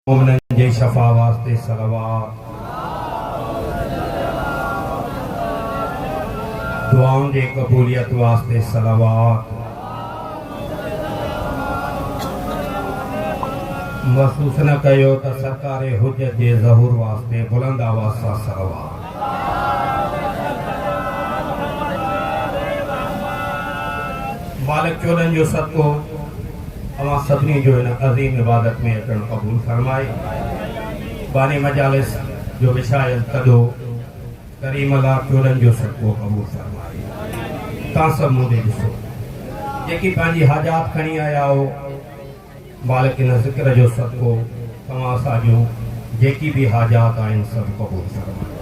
مومنن جي شفا واسطي صلوات. دعائن جي قبوليت واسطي صلوات. محسوس نه ڪيو ته سرڪار حجت جي ظهور واسطي بلند آواز سان صلوات. مالڪ چوڏهن جو صدقو. اوهان سڀني جو ان عظيم عبادت ۾ اچڻ قبول فرمائي. باني مجالس جو وڇايل تڏو ڪريم الله چولن جو صدقو قبول فرمائي. تان سڀ مون ڏي ڏسو. جيڪي پنهنجي حاجات کڻي آيا آهو، مالڪ ان ذڪر جو صدقو توهان اسان جون جيڪي به حاجات آهن سڀ قبول فرمائي.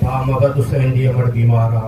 ڀاء مبد حسين جي امڙ بيمار آ.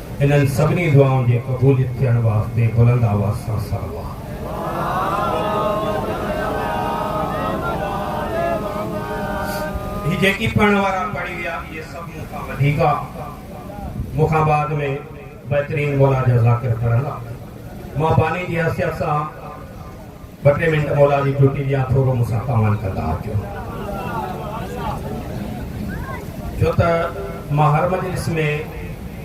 انهن سڀني دعائن جي قبوليت ٿيڻ واسطي بلند آواز سان صلوات. هي جيڪي پڙهڻ وارا پڙهي ويا اهي سڀ مون کان وڌيڪ آ مون کان بعد ۾ بهترين مولا جا ذاڪر پڙهندا مان باني جي حيثيت سان. ٻه ٽي منٽ مولا جي ڇٽي ڏيان ٿورو مون سان ڪاوڙ ڪندا اچو ڇو ته مان هر مجلس ۾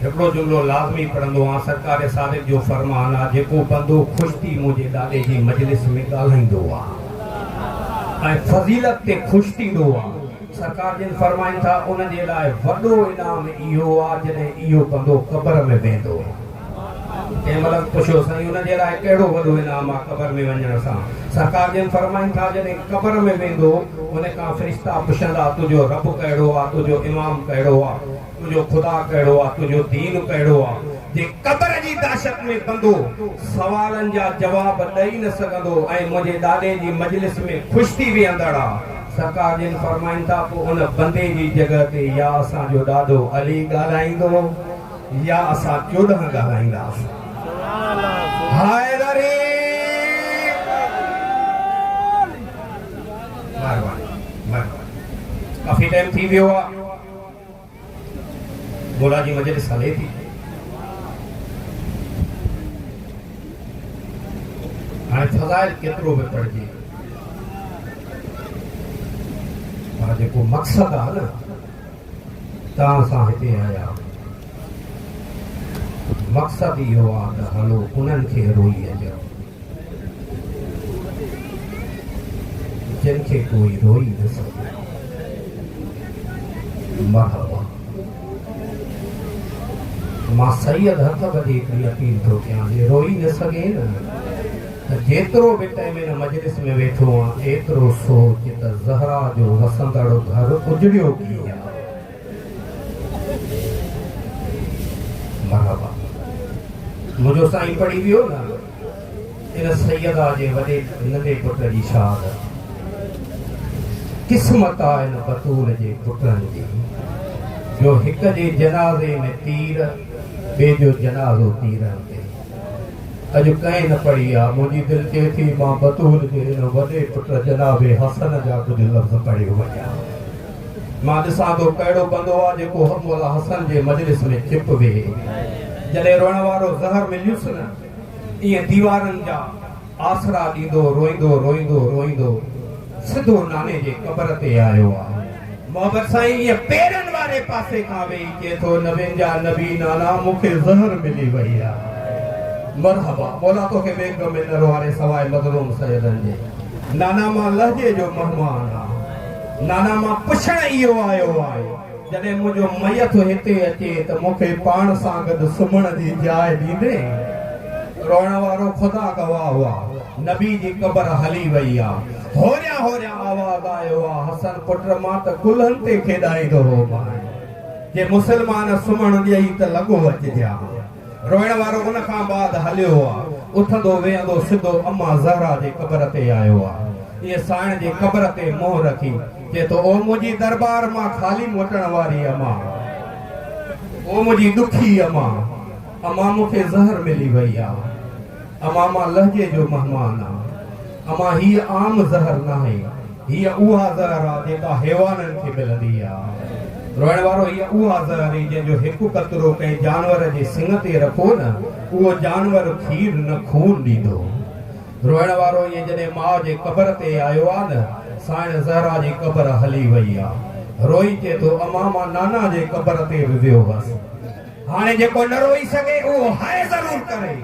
هڪڙو جملو لازمي پڙهندو آهيان سرڪار صادق جو فرمان آهي جيڪو بندو خوش ٿي منهنجي ڏاڏي جي مجلس ۾ ڳالهائيندو آهي ۽ فضيلت تي خوش ٿيندو آهي سرڪار جن فرمائن ٿا ان جي لاء وڏو انعام اهو آهي جڏهن اهو بندو قبر ۾ ويندو آهي. ڪنهن ملڪ پڇيو سائين ان جي لاء ڪهڙو وڏو انعام آ قبر ۾ وڃڻ سان؟ سرڪار جن فرمائن ٿا جڏهن قبر ۾ ويندو ان کان فرشتا پڇندا تنهنجو رب ڪهڙو آ تنهنجو امام ڪهڙو آ تنهنجو خدا ڪهڙو آ تنهنجو دين ڪهڙو آ جي قبر جي دهشت ۾ بندو سوالن جا جواب ڏئي نه سگهندو ۽ منهنجي ڏاڏي جي مجلس ۾ خوش ٿي ويهندڙ آ سرڪار جن فرمائن ٿا پو ان بندي جي جڳهه تي يا اسان جو ڏاڏو علي ڳالهائيندو. يا اسان چوڏهن ڳالهائينداسون. حيدري! مهرباني مهرباني ڪافي ٽائيم ٿي ويو آ مولا جي مجلس هلي ٿي هاڻي فضائل ڪيترو به پڙهجي پر جيڪو مقصد آ نه تان سان هتي آيا مقصد اهو آ ته هلو انهن کي روئي اچئون جن کي ڪوئي روئي نه سگهيو مرحبا مان سيد هٿ ٻڌي هڪڙي اپيل ٿو ڪيان جي روئي نه سگهين ته جيترو به تنهن ۾ ان مجلس ۾ ويٺو هئان، ايترو سوچ ته زهرا جو وسندڙ گهر اجڙيو ڪيئن ها؟ مرحبا! منهنجو سائين پڙهي ويو نه، ان سيده جي وڏي ننڍي پٽ جي شهادت. قسمت آ ان بتول جي پٽن جي، جو هڪ جي جنازي ۾ تير، ٻئي جو جنازو تيرن تي. اڄ ڪنهن نه پڙهي آ. منهنجي دل چئي ٿي مان بطور جي ان وڏي پٽ جناب حسن جا ڪجهه لفظ پڙهي وڃان. مان ڏسان ٿو ڪهڙو بندو آ جيڪو مولا حسن جي مجلس ۾ چپ ويهي. جڏهن روئڻ وارو زهر مليس نه ايئن ديوارن جا. آسرا ڏيندو روئيندو روئيندو روئيندو سڌو ناني جي قبر تي آيو آ. محبت سائين ائين پيرن واري پاسي کان ويهي چئي ٿو نبين جا نبي نانا مون کي زهر ملي وئي آ. مرحبا مولا توکي بي غم ۽ نرو واري سواء مظلوم سيدن جي. نانا مان لهجي جو مهمان آ. نانا مان پڇڻ اهو آيو آهي. جڏهن منهنجو ميت هتي اچي ته مون کي پاڻ سان گڏ سمهڻ جي جاء ڏيندين؟ روئڻ وارو خدا گواهه هئا، نبي جي قبر هلي وئي آ. هوريان هوريان آواز آيو آ، حسن پٽ مان ته ڪلهن تي کيڏائيندو هومانء، جي مسلمان سمهڻ ڏيئي ته لڳو اچجان. روئڻ وارو ان کان بعد هليو آ. اٿندو ويهندو سڌو اما زهرا جي قبر تي آيو آ. ائين سائڻ جي قبر تي منهن رکي چئي ٿو او منهنجي درٻار مان خالي موٽڻ واري اما. او منهنجي ڏکي اما. اما مون کي زهر ملي وئي آ. امان مان لهجي جو مهمان آ. امان هيء عام زهر ناهي. هيء اها زهر آ جيڪا حيوانن کي ملندي آ. روئڻ وارو هيء اها زهر ئي جنهن جو هڪ قطرو ڪنهن جانور جي سڱ تي رکو نه اهو جانور کير نه خون ڏيندو. روئڻ وارو هيء جڏهن ماء جي قبر تي آيو آ نه سائڻ زهرا جي قبر هلي وئي آ. روئي چئي ٿو امان مان نانا جي قبر تي به ويو هئس. هاڻي جيڪو نه روئي سگهي اهو هائي ضرور ڪري.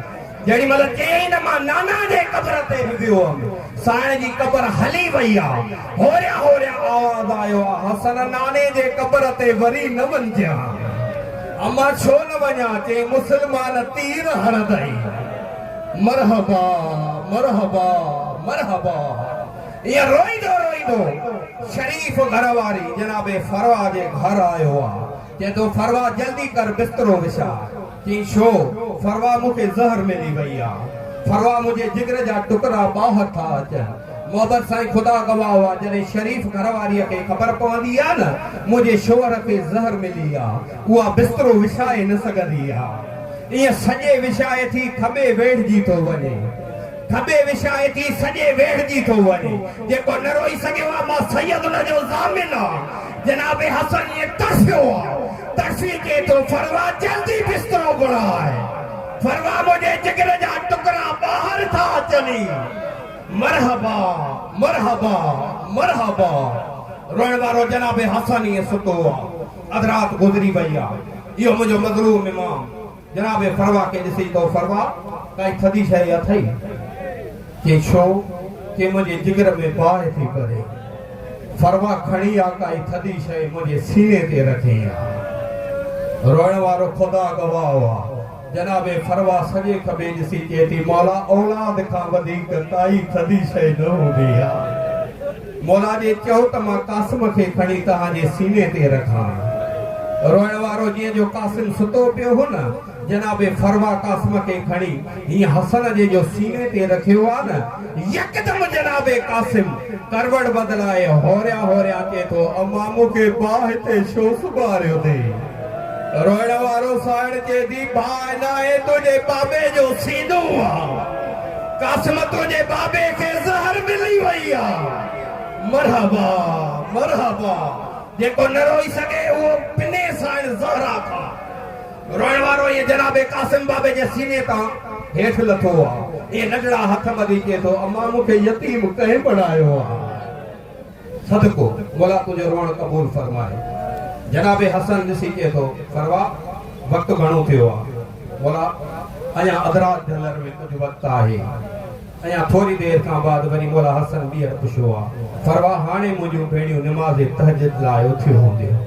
جيڏي مهل چيائين ته مان نانا جي قبر تي به ويو هوم. سائڻ جي قبر هلي وئي آ. هوريان هوريان آواز آيو آ حسن ناني جي قبر تي وري نه وڃجان. اما ڇو نه وڃان؟ چيائين مسلمان تير هڻندئي. مرحبا مرحبا مرحبا. ائين روئيندو روئيندو شريف گهر واري جناب فروا جي گهر آيو آ. چئي ٿو ڦروا جلدي ڪر بسترو وڇاء. چئين ڇو؟ ڦروا مون کي زهر ملي وئي آ. ڦروا منهنجي جگر جا ٽڪرا ٻاهر ٿا اچن. محبت سائين خدا گواهه آ جڏهن شريف گهر واريء کي خبر پوندي آ نه منهنجي شوهر کي زهر ملي آ اها بسترو وڇائي نه سگهندي آ. ائين سڄي وڇائي ٿي کٻي ويڙهجي ٿو وڃي. ڍٻي وڇائي ٿي سڄي ويڙهجي ٿو وڃي. جيڪو نه روئي سگهيو آ، مان سيد ان جو ضامن آ. جناب حسن ائين تڙڦيو آ. تڙڦي چئي ٿو، فروا جلدي بسترو گهراء. فروا منهنجي جگر جا ٽڪرا ٻاهر ٿا اچن ئي. مرحبا مرحبا مرحبا. روئڻ وارو جناب حسن ائين ستو آ. اڌ رات گذري وئي آ. اهو منهنجو مظلوم امام. جناب فروا کي ڏسي تو فروا ڪائي ٿڌي شيء اٿئي؟ چي ڇو؟ چي منهنجي جگر ۾ باهه ٿي ٻري. فروا کڻي آ ڪائي ٿڌي شيء منهنجي سيني تي رکين آ. روئڻ وارو خدا گواهه آ. جناب فروا سڄي کٻي ڏسي چئي ٿي مولا اولاد کان وڌيڪ ڪائي ٿڌي شيء نه هوندي آ. مولا جي چئو ته مان قاسم کي کڻي توهان جي سيني تي رکان. روئڻ وارو جيئن جو قاسم ستو پيو هو نه، جناب فروا قاسم کي کڻي هيئن حسن جي جو سيني تي رکيو ها نه، يڪدم جناب قاسم ڪروڙ بدلائي هوريان هوريان اچي ٿو امان مون کي باهه هتي شو سمهاريو ٿي. روئڻ وارو سائڻ چئي ٿي باهه ناهي تنهنجي بابي جو سينو آ. قاسمتو جي بابي کي زهر ملي وئي آ. مرحبا مرحبا جيڪو نه روئي سگهي اهو پني سائڻ زهرا کان روئڻ وارو ايئن جناب قاسم بابي جي سيني تان هيٺ لٿو آ ۽ رڍڙا هٿ ٻڌي چئي ٿو امان مون کي يتيم ڪنهن بڻايو آ. صدقو مولا تنهنجو روئڻ قبول فرمائي. جناب حسن ڏسي چئي ٿو، سروا وقت گهڻو ٿيو آ. مولا اڃا اڌرات جهلر ۾ ڪجهه وقت آهي. اڃا ٿوري دير کان بعد وري مولا حسن ٻيهر پڇيو آ، سروا هاڻي منهنجون ڀيڻيون نماز تهجد لاء اٿيون هونديون.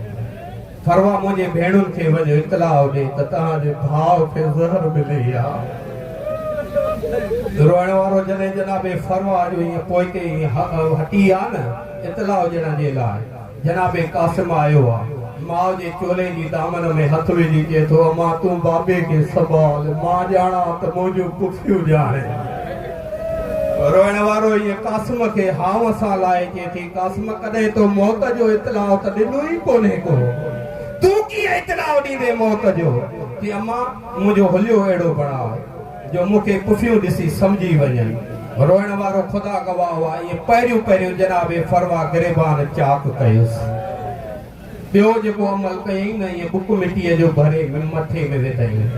ڦروا منهنجي ڀيڻن کي وڃ اطلاع ڏي ته توهان جي ڀاء کي زهر ملي ويا روئڻ وارو جڏهن جناب ڦروا جو ائين پوئتي ائين هٽي ويا نه اطلاع ڏيڻ جي لاء جناب قاسم آيو آ ماء جي چولي جي دامن ۾ هٿ وجهي چئي ٿو امان تون بابي کي سنڀال مان ڄاڻان ته منهنجون پڦيون ڄاڻي روئڻ وارو ايئن قاسم کي هانء سان لائي چئي ٿي، قاسم ڪڏهن تو موت جو اطلاع ته ڏنو ئي ڪونهي ڪو. تون ڪيئن اطلاع ڏيندين موت جو؟ چي امان منهنجو حليو اهڙو بڻاء جو مون کي پڦيون ڏسي سمجهي وڃن. روئڻ وارو خدا گواهه هئا ايئن پهريون پهريون جناب فروا گريبان چاڪ ڪيس. ٻيو جيڪو عمل ڪيئي نه ايئن بڪ مٽيء جو ڀري مٿي ۾ وڌئين.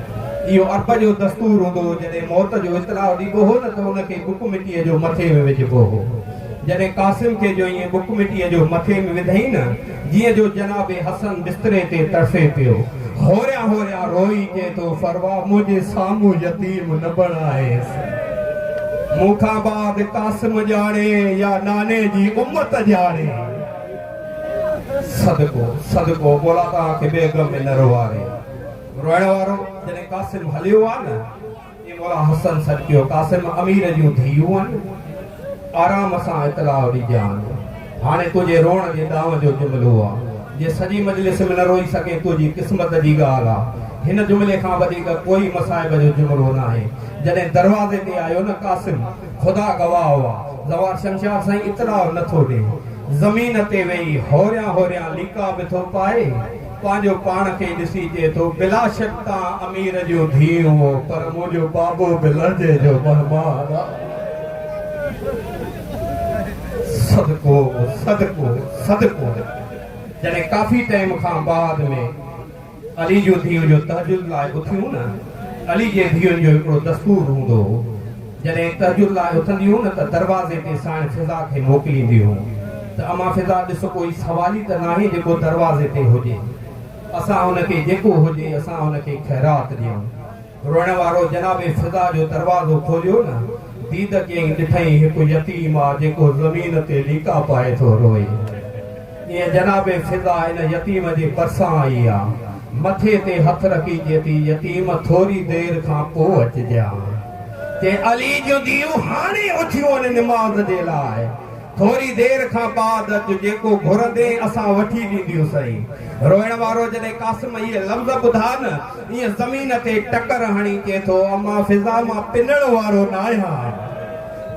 اهو عرب جو دستور هوندو هو جڏهن موت جو اطلاع ڏبو هو نه ته ان کي بڪ مٽيء جو مٿي ۾ وجهبو هو. جڏهن قاسم کي جو ايئن بڪ مٽيء جو مٿي ۾ وڌئين نه جيئن جو جناب حسن بستري تي تڙڦي پيو. هوريان هوريان روئي چئي ٿو فروا منهنجي سامهون يتيم نه بڻائيس. مون کان بعد قاسم ڄاڻي يا ناني جي امت ڄاڻي. صدقو صدقو مولا توهان کي بي غم ۾ نه روئاري. روئڻ وارو جڏهن قاسم هليو آ نه اي مولا حسن صدقيو قاسم امير جون ڌيئون آن آرام سان اطلاع ڏجان هاڻي تنهنجي روئڻ جي ڏانء جو جملو آ جي سڄي مجلس ۾ نه روئي سگهين تنهنجي قسمت جي ڳالهه آ هن جملي کان وڌيڪ ڪوئي مصائب جو جملو ناهي جڏهن دروازي تي آيو نه قاسم خدا گواهه هئا، زوار شمشاد سائين اطلاع نه ٿو ڏئي، زمين تي ويهي هوريان هوريان ليڪا به ٿو پائي، پنهنجو پاڻ کي ڏسي چئي ٿو، بلاشڪ تان امير جون ڌيئون هئو، پر منهنجو بابو به لهجي جو مهمان آ. صدقو، صدقو، صدقو. جڏهن ڪافي ٽيم کان بعد ۾. علي جون ڌيئون جو تهجد لاء اٿيون نه علي جي ڌيئن جو هڪڙو دستور هوندو هو جڏهن تهجد لاء اٿنديون نه ته دروازي تي ساڻ فضا کي موڪلينديون ته امان فضا ڏس ڪوئي سوالي ته ناهي جيڪو دروازي تي هجي اسان ان کي جيڪو هجي اسان ان کي خيرات ڏيون. روئڻ وارو جناب فضا جو دروازو کوليو نه ديد ڪيئي ڏٺئين هڪ يتيم آ جيڪو زمين تي ليڪا پائي ٿو روئي ايئن جناب فضا ان يتيم جي پرسان آئي آ مٿي تي هٿ رکي چئي ٿي يتيم ٿوري دير کان پو اچجان چئي علي جون ڌيئون هاڻي اٿيون آهن نماز جي لاء ٿوري دير کان بعد اچ، جيڪو گهرندين اسان وٺي ڏينديون سئي. روئڻ وارو جڏهن قاسم اهي لفظ ٻڌا نه، ايئن زمين تي ٽڪر هڻي چئي ٿو، امان فضا مان پنڻ وارو ناهيان.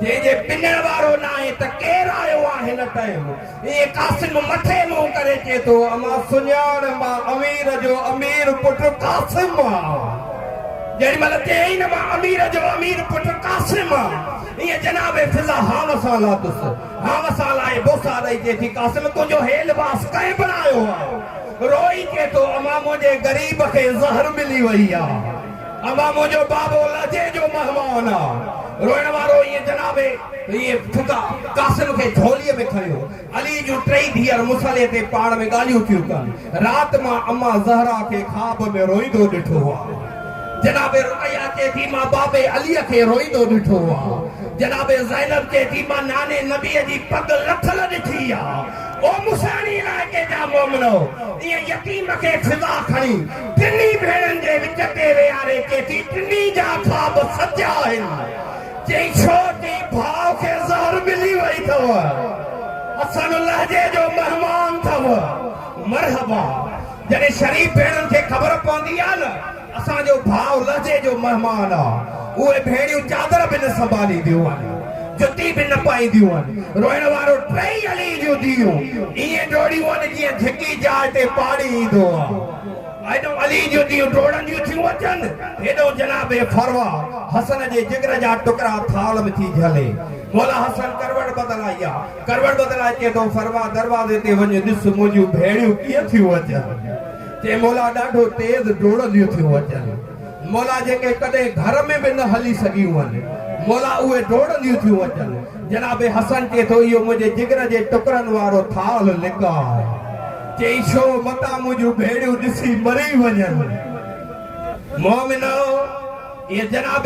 جنهن جي پنڻ وارو ناهي ته ڪير آيو آ هن ٽائيم؟ ايئن قاسم مٿي منهن ڪري چئي ٿو، امان سڃاڻ، مان امير جو امير پٽ قاسم آ. جيڏي مهل چيائين نه مان امير جو امير پٽ قاسم آ. هيء جناب فضا هاوس آ لاتس، هاوس آ لائي بوسا ڏئي چئي ٿي، قاسم تنهنجو هي لباس ڪنهن بڻايو آ؟ روئي چئي ٿو، امان منهنجي غريب کي زهر ملي وئي آ. امان منهنجو بابو لهجي جو مهمان آ. روئڻ وارو هيء جناب هيء فضا قاسم کي جهوليء ۾ کنيو. علي جون ٽئي ڌيئر مصلي تي پاڻ ۾ ڳالهيون ٿيون ڪن. رات مان اما زهرا کي خواب ۾ روئيندو ڏٺو آ. جناب رقيه چئي ٿي مان بابي علي کي روئيندو ڏٺو آ. جناب زينب چئي ٿي مان ناني نبي جي پڳ لٿل ڏٺي آ. او موسياڻي علائقي جا مومنؤ! انهيء يتيم کي سزا کڻي ٽنهي ڀيڻن جي وچ تي ويهاري چئي ٿي ٽنهي جا خواب سچا آهن. چئي ڇوٽي ڀاء کي زهر ملي وئي اٿو اسان لهجي جو مهمان اٿو مرحبا جڏهن شريف ڀيڻن کي خبر پوندي آ نه اسان جو ڀاء لهجي جو مهمان آ اهي ڀيڻيون چادر به نه سنڀالينديون آهن جتي به نه پائينديون آهن روئڻ وارو ٽئي علي جون ڌيئون ائين ڊوڙيون آهن جيئن جهڪي جاء تي پاڙي ايندو آ. ايڏو علي جون ڌيئون ڊوڙنديون ٿيون اچن، ايڏو جناب فروه حسن جي جگر جا ٽڪرا ٿالهه ۾ ٿي جهلي. مولا حسن ڪروٽ بدلائي آ. ڪروٽ بدلائي چئي ٿو، فروه دروازي تي وڃ ڏس منهنجون ڀيڻيون ڪيئن ٿيون اچن. چئي مولا ڏاڍو تيز ڊوڙنديون ٿيون اچن. مولا جيڪي ڪڏهن گهر ۾ به نه هلي سگهيون هئن، مولا اهي ڊوڙنديون ٿيون اچن. جناب حسن چئي ٿو، اهو منهنجي جگر جي ٽڪرن وارو ٿالهه لڪاء چئي ڇو، متان منهنجون ڀيڙيون ڏسي مري وڃن. مومنو! اهي جناب.